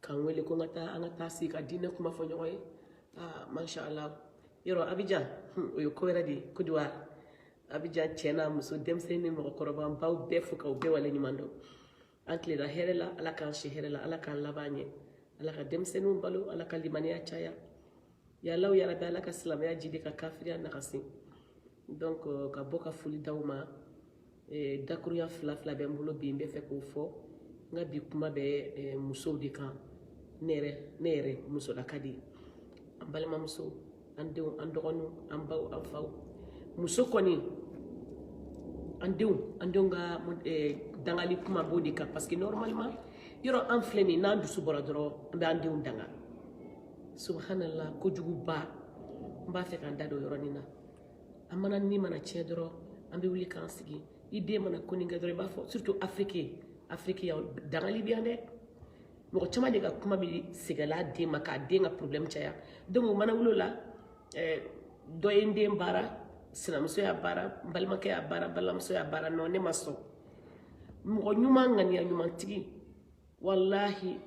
k'an wele ko n ka taa an ka taa sigi ka diinɛ kuma fɔ ɲɔgɔn ye aa masha allah yɔrɔ abijan o ye ko wɛrɛ de ye kodiwari abijan cɛ n'a muso denmisɛnnin ni mɔgɔkɔrɔba n b'aw bɛɛ fo k'aw bɛɛ wale ɲuman dɔn an tilela hɛrɛ la ala k'an si hɛrɛ la ala k'an laban ɲɛ ala ka denmisɛnninw balo ala ka limaniya caya ya allahu ya rabi ala ka silamɛya jidi ka kafiriya nagasi donc ka bɔ ka foli d'aw ma eh, dakuruya fila fila bɛ n bolo bi n bɛ fɛ k'o fɔ n ka bi kuma bɛ eh, musow de kan ne yɛrɛ ne yɛrɛ musolaka de an balimamuso an denw an dɔgɔninw an baw an faw muso kɔni an denw an denw ka eh, dangali kuma b'o de kan parce que normalement yɔrɔ an filɛ nin n'an dusu bɔra dɔrɔn an bɛ an denw danga subhanallah kojuguba n b'a fɛ k'an da don yɔrɔ nin na an mana nin mana tiɲɛ dɔrɔn an bɛ wuli k'an sigi i den mana ko nin kɛ dɔrɔn i b'a fɔ surtout afiriki afiriki yan dangali bɛ yan dɛ mɔgɔ caman de ka kuma bɛ seginna den ma k'a den ka problème caya donc o mana wuli o la eh, dɔ ye n den baara sinamuso y'a baara n balimakɛ y'a baara balimamuso y'a baara non ne ma sɔn mɔgɔ ɲuman ŋaniya ɲumantigi walahi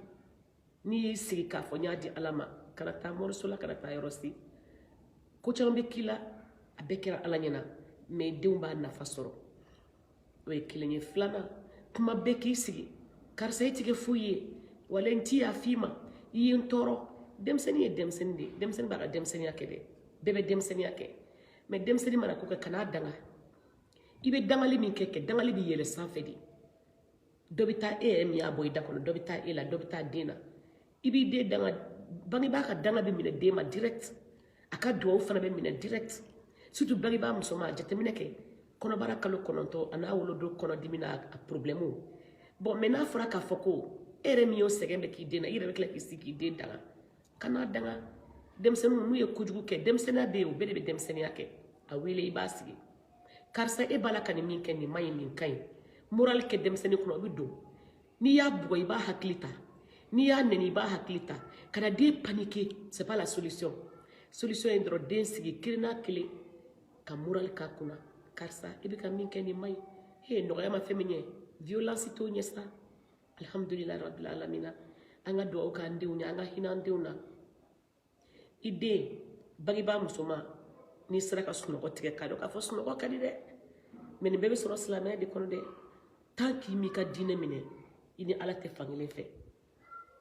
n'i y'i sigi k'a fɔ n y'a di ala ma kana taa moriso la kana taa yɔrɔ si ko caman bɛ k'i la a bɛɛ kɛra ala ɲɛna mɛ denw b'a nafa sɔrɔ o ye kelen ye filanan kuma bɛɛ k'i sigi karisa i ti kɛ foyi ye wala n ti yaf'i ma i ye n tɔɔrɔ denmisɛnnin ye denmisɛnnin de ye denmisɛnnin b'a ka denmisɛnninya kɛ dɛ bɛɛ bɛ denmisɛnninya kɛ mɛ denmisɛnnin mana ko kɛ kan'a danga i bɛ dangali min kɛ kɛ dangali bɛ yɛlɛ sanfɛ de dɔ bɛ taa e yɛrɛ min y'a bɔ i da kɔnɔ dɔ bɛ taa e la dɔ bɛ taa den na i b'i den danga bangebaa ka danga bɛ minɛ den ma direct a ka duwawu fana bɛ minɛ direct surtout bangebaa musoman a jateminɛ kɛ kɔnɔbara kalo kɔnɔntɔn an'a wolodon kɔnɔdimi n'a a problème bon mɛ n'a fɔra k'a fɔ ko e yɛrɛ min y'o sɛgɛn bɛɛ k'i den na i yɛrɛ bɛ tila k'i sigi k'i den danga kan'a danga denmisɛnninw n'u ye kojugu kɛ denmisɛnninya bɛ yen o bɛɛ de bɛ denmisɛnninya kɛ a wele i b'a sigi karisa e b'a la ka nin min kɛ nin man ɲi nin ka ɲi morali kɛ denmisɛnnin kunna o bɛ don n'i y'a bugɔ i b'a hakili ta n'i y'a nɛni i b'a hakili ta kana den paniquer c'est pas la solution solution ye dɔrɔn den sigi kelen n'a kelen ka morali k'a kunna karisa i bɛ ka min kɛ nin man ɲi he nɔgɔya ma fɛn min ɲɛ violence t'o ɲɛ sa alhamdulilayi rabil alamina an ka dugawu k'an denw ye an ka hinɛ an denw na i den bangebaa musoman n'i sera ka sunɔgɔ tigɛ k'a dɔn k'a fɔ sunɔgɔ ka di dɛ mɛ nin bɛɛ bɛ sɔrɔ silamɛya de kɔnɔ dɛ tan k'i m'i ka diinɛ minɛ i ni ala tɛ fankelen fɛ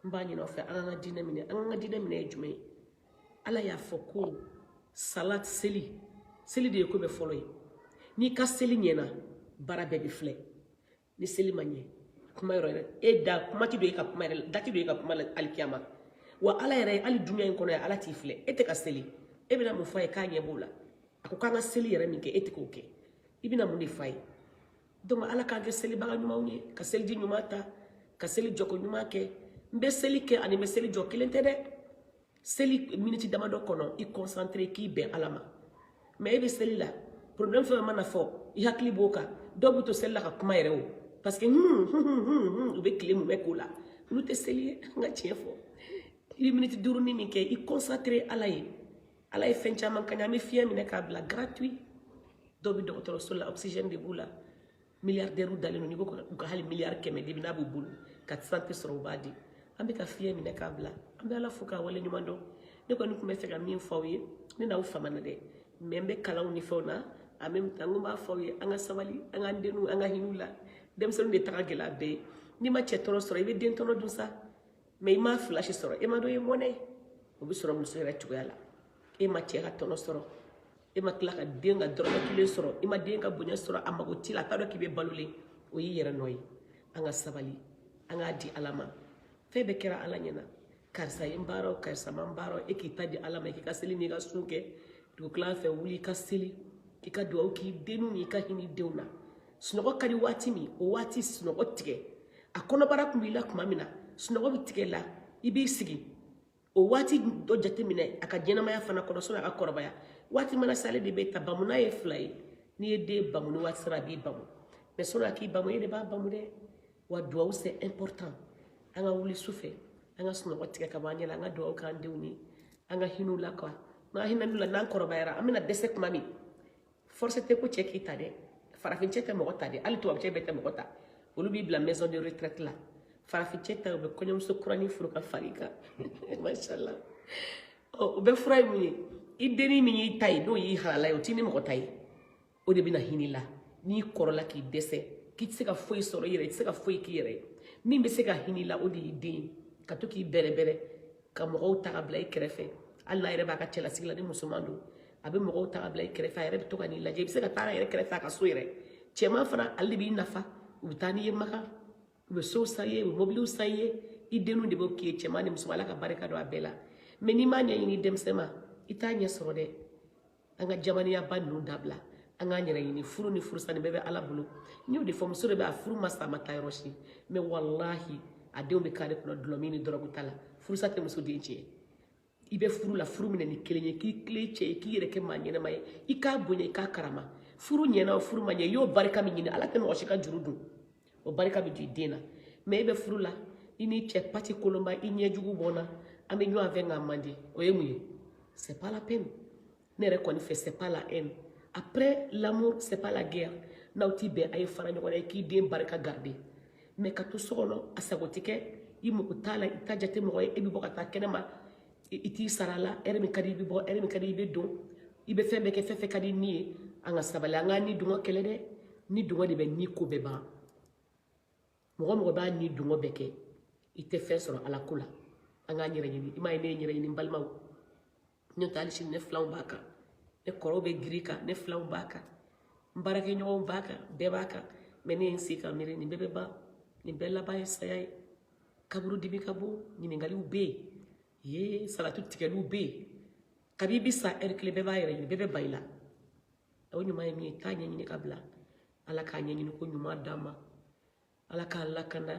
n b'a ɲin'aw fɛ an k'an ka diinɛ minɛ an k'an ka diinɛ minɛ ye jumɛn ye ala y'a fɔ ko salat seli seli de ye ko bɛɛ fɔlɔ ye n'i ka seli ɲɛna baara bɛɛ bɛ filɛ ni seli ma ɲɛ kuma yɔrɔ yɛrɛ e da kuma tɛ don e ka kuma yɛrɛ da tɛ don e ka kuma la alikiyama wa ala yɛrɛ hali dunya in kɔnɔ ala t'i filɛ e tɛ ka seli e bɛna mun fɔ a ye k'a ɲɛ b'o la a ko k'an ka seli yɛrɛ min kɛ e tɛ k'o kɛ i bɛna mun de fɔ a ye donc ala k'an kɛ selibaga ɲumanw ye ka seliji ɲuman ta ka seli jɔko ɲuman kɛ n bɛ seli kɛ ani n bɛ seli jɔ kelen tɛ dɛ seli miniti damadɔ kɔnɔ i concentré k'i bɛn ala ma mais e bɛ seli la problème fɛn mana fɔ i hakili b'o kan dɔw bɛ to seli la ka kuma yɛrɛ o parce que hun hun hun hun u bɛ tile mumɛ k'o la olu tɛ seli ye an ka tiɲɛ fɔ i bɛ miniti duuru ni min kɛ i concentré ala ye ala ye fɛn caman k'an ye an bɛ fiɲɛ minɛ k'a bila gratuit dɔw bɛ dɔgɔtɔrɔso la oxygène de b'u la milliardaires dalen don n'i ko u ka hali miliyari kɛmɛ di bi n'a b'u bolo ka santé sɔrɔ u b'a di an bɛ ka fiɲɛ minɛ k'a bila an bɛ ala fo k'a wale ɲuman dɔn ne kɔni tun bɛ fɛ ka min fɔ aw ye ne n'aw famana dɛ mais n bɛ kalanw ni fɛnw na en même temps n tun b'a fɔ aw ye an ka sabali an k'an denw an ka hin'u la denmisɛnninw de ta ka gɛlɛn a bɛɛ ye n'i ma cɛ tɔnɔ sɔrɔ i bɛ den tɔnɔ dun sa mais i ma fila si sɔrɔ e ma dɔ ye mɔnɛ ye o bɛ sɔrɔ muso yɛrɛ cogoya la e ma cɛ ka tɔnɔ sɔrɔ e ma tila ka den ka dɔrɔmɛ kelen sɔrɔ i ma den ka bonya sɔrɔ a mago t'i la a t'a dɔn k'i bɛ balolen o y'i yɛrɛ nɔ ye an ka sabali an k'a di ala ma fɛn bɛɛ kɛra ala ɲɛna karisa ye n baara o karisa ma n baara o e k'i ta di ala ma k'i ka seli n'i ka sun kɛ dugukila fɛ wuli i ka seli i ka dugawu k'i denw n'i ka hinɛ denw na sunɔgɔ ka di waati min o waati sunɔgɔ tigɛ a kɔnɔbara tun b'i la tuma min na sunɔgɔ bɛ tigɛ la i b'i sigi o waati dɔ jateminɛ a ka ɲɛnamaya fana kɔnɔ sɔnni a ka kɔrɔbaya waati mana se ale de b'i ta bamuna ye fila ye n'i ye den bamu ni waati sera a b'i bamu mais sɔnni a k'i bamu e de b'a bamu dɛ wa duwawu c'est important an ka wuli su fɛ an ka sunɔgɔ tigɛ ka bɔ an ɲɛ la an ka duwawu k'an denw ye an ka hin'u la quoi n'an hinɛn'u la n'an kɔrɔbayara an bɛna dɛsɛ tuma min force tɛ ko cɛ k'i ta dɛ farafin cɛ tɛ mɔgɔ ta dɛ hali tubabu cɛ bɛɛ tɛ mɔgɔ ta olu b'i bila maison de retraite la farafin cɛ ta u bɛ kɔɲɔmuso kurani furu ka far'i kan mashallah ɔ o bɛɛ fura ye mun ye i denni min y'i ta ye n'o y'i halala ye o t'i ni mɔgɔ ta ye o de bɛna hinɛ la n'i kɔrɔla k'i dɛsɛ k'i tɛ se ka foyi sɔrɔ i yɛrɛ i tɛ se ka foyi k'i yɛrɛ ye min bɛ se ka hinɛ la o de y'i den ye ka to k'i bɛrɛbɛrɛ ka mɔgɔw ta ka bila i kɛrɛfɛ hali n'a yɛrɛ b'a ka cɛlasigi la ni musoman don a bɛ mɔgɔw ta ka bila i kɛrɛfɛ a yɛrɛ bɛ to ka n'i lajɛ i bɛ se ka taa a yɛrɛ kɛrɛfɛ a ka so yɛrɛ cɛman fana ale de b'i nafa u bɛ taa n'i ye makan u bɛ sow san i ye u bɛ mobiliw san i ye i denw de b'o k'i ye cɛman ni musoman ala ka barika don a bɛɛ la mais n'i m'a ɲɛɲini denmisɛnnin ma i t'a ɲɛ sɔrɔ dɛ an ka jamaniyaba ninnu dabila an k'an yɛrɛ ɲini furu ni furusa nin bɛɛ bɛ ala bolo n y'o de fɔ muso de bɛ a furu ma sa a ma taa yɔrɔ si mais walahi a denw bɛ carré kɔnɔ dulɔmin ni dɔrɔgu ta la furusa tɛ muso den tiɲɛ i bɛ furu la furu minɛ ni kelen ye k'i tilen cɛ ye k'i yɛrɛ kɛ maa ɲɛnama ye i k'a bonya i k'a karama furu ɲɛna o furu ma ɲɛ i y'o barika min ɲini ala tɛ mɔgɔ si ka juru don o barika bɛ don i den na mais e bɛ furu la i n'i cɛ pati kolonba i ɲɛ jugu bɔ na an bɛ ɲɔgɔn fɛ nka man di o ye mun ye c'est pas la peine ne yɛrɛ kɔni fɛ c'est pas la haine après l'amour c'est pas la guerre n'aw ti bɛn a ye fara ɲɔgɔn na i k'i den barika garder mais ka to so kɔnɔ a sago tɛ kɛ i mako t'a la i t'a jate mɔgɔ ye e bɛ bɔ ka taa kɛnɛma i t'i sara la heure min ka di i bɛ bɔ heure min ka di i bɛ don i bɛ fɛn bɛɛ kɛ fɛn fɛn ka di ni ye an ka sabali an k'an ni dungɔ kɛlɛ dɛ ni dungɔ de bɛ ni ko bɛɛ ban mɔgɔ mɔgɔ b'a ni dungɔ bɛɛ kɛ i tɛ fɛn sɔrɔ ala ko la an k'an yɛrɛ ɲini i m'a ye ne ye n yɛrɛ ɲini n balimaw n'o tɛ hali sini ne filanw b'a kan ne kɔrɔw bɛ girin kan ne filanw b'a kan n baarakɛɲɔgɔnw b'a kan bɛɛ b'a kan mais ne ye n sigi ka miiri nin bɛɛ bɛ ban nin bɛɛ laban ye saya ye kaburu dibi ka bon ɲininkaliw bɛ yen ye salatu tigɛliw bɛ yen kabi i bɛ sa heure kelen bɛɛ b'a yɛrɛ ɲini bɛɛ bɛ ban i la o ɲuman ye min ye taa ɲɛɲini ka bila ala ka ɲɛɲini ko ɲuman d'an ma ala k'an lakana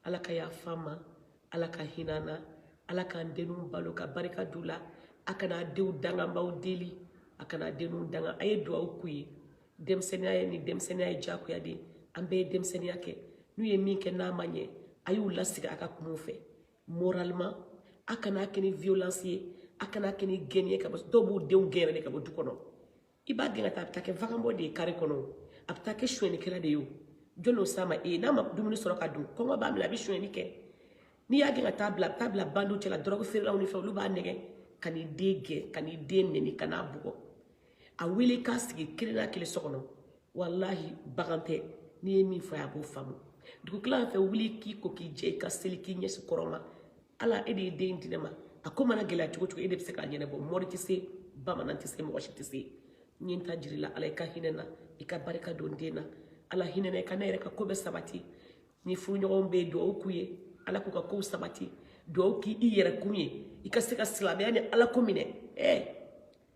ala ka yafa an ma ala ka hinɛ an na ala k'an denw balo ka barika d'u la a kana denw danga n b'aw deli a kana denw danga a ye duwawu k'u ye denmisɛnninya ye ni denmisɛnninya ye jagoya de ye an bɛɛ ye denmisɛnninya kɛ n'u ye min kɛ n'a ma ɲɛ a y'u lasigi a ka kuma u fɛ moralement a kana kɛ ni violence ye a kana kɛ ni gɛnni ye ka bɔ dɔw b'u denw gɛn yɛrɛ de ka bɔ du kɔnɔ i b'a gɛn ka taa a bɛ taa kɛ vagabond de ye kare kɔnɔ a bɛ taa kɛ sonyɛnikɛla de ye o jɔni y'o s'a ma e ye n'a ma dumuni sɔrɔ ka dun kɔngɔ b'a minɛ a bɛ sonyɛni kɛ n'i y'a gɛn ka taa bila a bɛ taa bila bandiw cɛla dɔrɔgu feerelaw ni fɛn olu b'a nɛgɛn kan'i den gɛn kan'i den nɛni kan'a bugɔ a wele k'a sigi kelen n'a kelen so kɔnɔ walahi bagan tɛ n'i ye min fɔ a b'o faamu dugutila fɛ wuli k'i ko k'i jɛ i ka seli k'i ɲɛsin kɔrɔn ma ala e de ye den di ne ma a ko mana gɛlɛya cogo cogo e de bɛ se k'a ɲɛnabɔ mɔri tɛ se bamanan tɛ se mɔgɔ si tɛ se n ye n ta jira i la ala i ka hinɛ n na i ka barika don den na ala hinɛ n na i ka ne yɛrɛ ka ko bɛɛ sabati ni furuɲɔgɔnw bɛ yen dugawu k'u ye ala k'u ka kow sabati dugawu k'i yɛrɛ kun ye i ka se ka silamɛya ni ala ko minɛ ɛɛ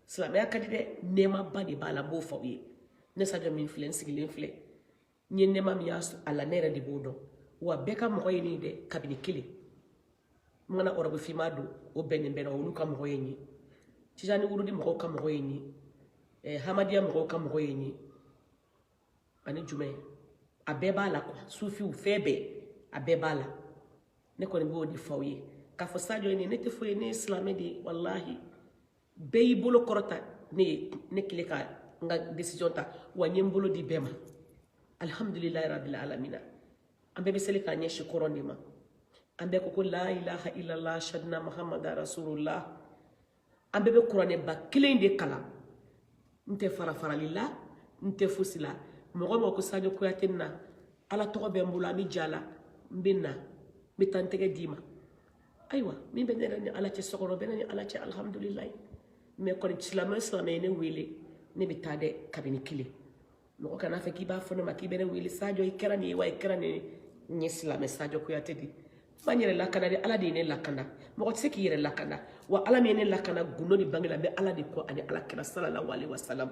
silamɛya ka di dɛ nɛɛmaba de b'a la n b'o fɔ aw ye ne sajɔ min filɛ n sigilen filɛ n ye nɛɛma min y'a la ne yɛrɛ de b'o dɔn wa bɛɛ ka mɔgɔ ye ne ye dɛ kabini kelen n mana ɔrɔbu finma don o bɛnnen bɛnna olu ka mɔgɔ ye n ye tijani wurudi mɔgɔw ka mɔgɔ ye n ye eh, hamadiya mɔgɔw ka mɔgɔ ye n ye ani jumɛn a bɛɛ b'a la quoi sufiw fɛn bɛɛ a bɛɛ b'a la ne kɔni b'o de fɔ aw ye k'a fɔ sajɔ ye ne tɛ foyi ne ye silamɛ de ye walahi bɛɛ y'i bolo kɔrɔta ne ye ne kelen ka n ka décision ta wa n ye n bolo di bɛɛ ma alhamdulilayi rabil alamina an bɛɛ bɛ seli k'an ɲɛsin kɔrɔn de ma an bɛɛ ko ko la ilaha illallah shadina muhammada rasulullah an bɛɛ bɛ kuranɛba kelen de kalan n tɛ farafarali la n tɛ fosi la mɔgɔ o mɔgɔ ko sadio kuyate na ala tɔgɔ bɛ n bolo an bɛ ja la n bɛ na n bɛ taa n tɛgɛ d'i ma ayiwa min bɛ ne yɛrɛ ni ala cɛ so kɔnɔ bɛ ne ni ala cɛ alihamudulilayi mais kɔni silamɛ o silamɛ ye ne wele ne bɛ taa dɛ kabini kelen mɔgɔ kana fɔ k'i b'a fɔ ne ma k'i bɛ ne wele sadio i kɛra nin ye wa i kɛra nin ye n ye silamɛ sadio kuyate ne ma n yɛrɛ lakana dɛ ala de ye ne lakana mɔgɔ tɛ se k'i yɛrɛ lakana wa ala min ye ne lakana gundo ni bange la n bɛ ala de kɔ ani ala kira salalahu aleyi wasalam